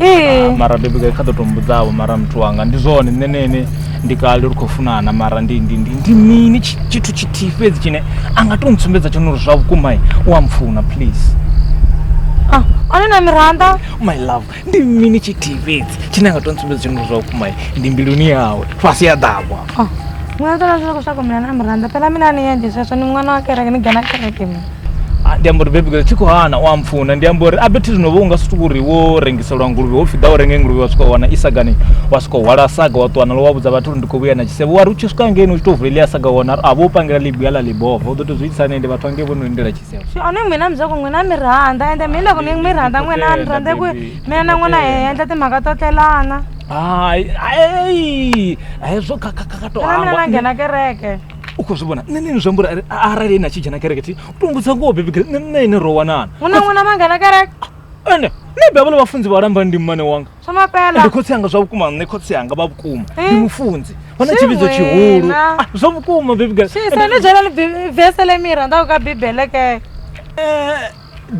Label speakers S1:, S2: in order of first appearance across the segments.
S1: ee Ah, mara baby girl kha ḓo to mbudzavho mara muthu wanga ndi zwone nṋe na ene ndi kale ri khou funana mara ndi ndi ndi ndi mini tshi- tshithu tshithihi fhedzi tshine a nga to ntsumbedza tshone uri zwa vhukuma u a mpfuna please
S2: ah, ane na miranda my love ndi
S1: mini tshithihi fhedzi tshine a nga to ntsumbedza tshone uri zwa vhukuma ndi mbiluni yawe fhasi ya ḓawa Ah, n'wana
S2: tona swi loko swa ku mina na mirhandza phela mina ni yendle sweswo ni n'wana wa kereke ni gana kereke mina Ah, ndi amba uri bebi
S1: tshi khou hana u ampfuna ndi amba uri abethi zwino vho unga sutuku uri wo rengiselwa nguluvhe ho pfhi ḓa u renge nguluvhe wa swika wa wana isagani wa swika hwala saga wa ṱuwa nalo wa vhudza vhathu uri ndi khou vhuya na tshisevho wari u tshi swika ngeno u tshi tou vulelia saga wa wana a vho pangela ḽibuya ḽa ḽibova u ḓo tou zwi itisa nende vhathu ange vho no lindela tshisevho swi one n'wina muzako n'wina
S2: mi rhandza ende mi loko ni mi rhandza n'wina a ni rhandza ku mina na n'wina hi endla timhaka to tlelana hayi hezwo kha kha kha to mina na nghena kereke u khou zwi vhona nṋe
S1: nini zwi ambura arali ene a tshi dzhena kereke thi u tongudza ngoho bebi gre nṋe nṋe ine ro wanana hu na ṅwana mangana
S2: kereke ende nṋe
S1: bebele vhafunzi vha lambani ndi mmane wanga ndi khotsi anga
S2: zwa vhukuma nṋe
S1: khotsi anga vha vhukuma ndi eh? mufunzi vha na tshividzo tshihulu ah, zwa vhukuma bebi gre sane dzhena
S2: vese le mira nda u ka bibele ke eh,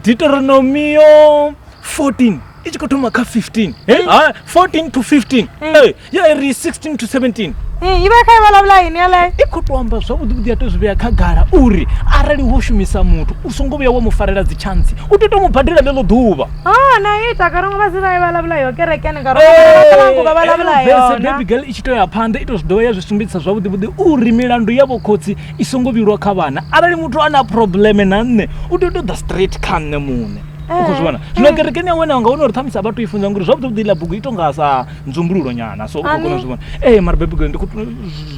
S1: deuteronomio 14 i tshi khou thoma kha 15 eh? ah, 14 to 15 eh, ya iri 16 to 17 Eh, i vha kha i vulavula
S2: yini yaleyo i khou tou amba zwavhuḓi vhuḓi
S1: ya tou zwi vhea khagala uri arali wo shumisa muthu u songo vhuya wa mu farela dzitshantsi u tea u tou mu badela ḽeḽo ḓuvha oh na i ita
S2: karongwe vha si vha i vulavula yo kerekeni karongwealangu vha vulavula yona bebi girl i tshi tou ya phanḓa
S1: i tou zwi dovha ya zwi sumbedzisa zwavhuḓi vhuḓi uri milandu ya vhokhotsi i songo vhilwa kha vhana arali muthu ana probleme na nṋe u tea u to ḓa straight kha nṋe muṋe u khou zwi vhona eh, zwino eh. kerekeni ya wena nga wana uri ṱhamusi a vha to i funza ngori zwavhuḓi vhuḓi ḽa bugu i to nga sa nzumbululo nyana so u khou kona u zwi vhona ee eh, mara bebigole ndi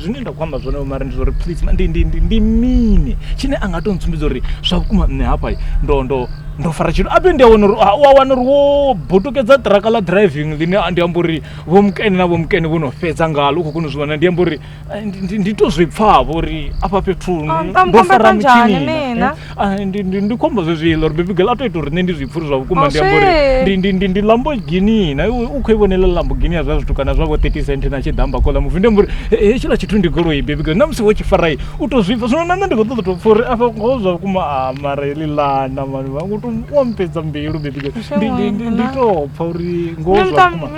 S1: zwine nda khou amba zwone mara ndi zwauri please ndi ndi ndi ndi mini tshine a nga to ntsumbidza uri zwa vhukuma nṋe hafha ndo ndo ndo fara tshithu ape ndi a wana uri u a wana uri wo botokedza ṱiraka ḽa driving ḽine ndi amba uri vho mukene na vho mukene vho no fhedza ngalo u khou kona u zwi vhona ndi amba uri Eh, ndi- ndi- ndi to zwi pfavho uri afha fhethu ni- Ah, ndo mukamba fara kanjani mitshini na, mina? eh. Ah, ndi- ndi- ndi khombo zwezwiḽa uri baby girl a to ita uri nṋe ndi zwi pfha uri zwa vhukuma Oh, ndi amba uri shit. ndi- ndi- ndi- ndi lamborghini na iwe u khou i vhonela lamborghini ya zwa zwithu kana zwavho 30 cent na tshiḓamba kola muvi ndi amba uri "Eh, eh, hetshiḽa tshithu ndi goloi baby girl na musi wo tshi farai u to zwi pfha zwino na nṋe ndi khou ṱoḓa to pfha uri afha ngoho zwa vhukuma a mara heḽi lana mani wa u to- wa mpedza mbilu baby girl Ndi- ndi- ndi- ndi Shame, to pfha uri ngoho Nṋe zwa muṱa- vhukuma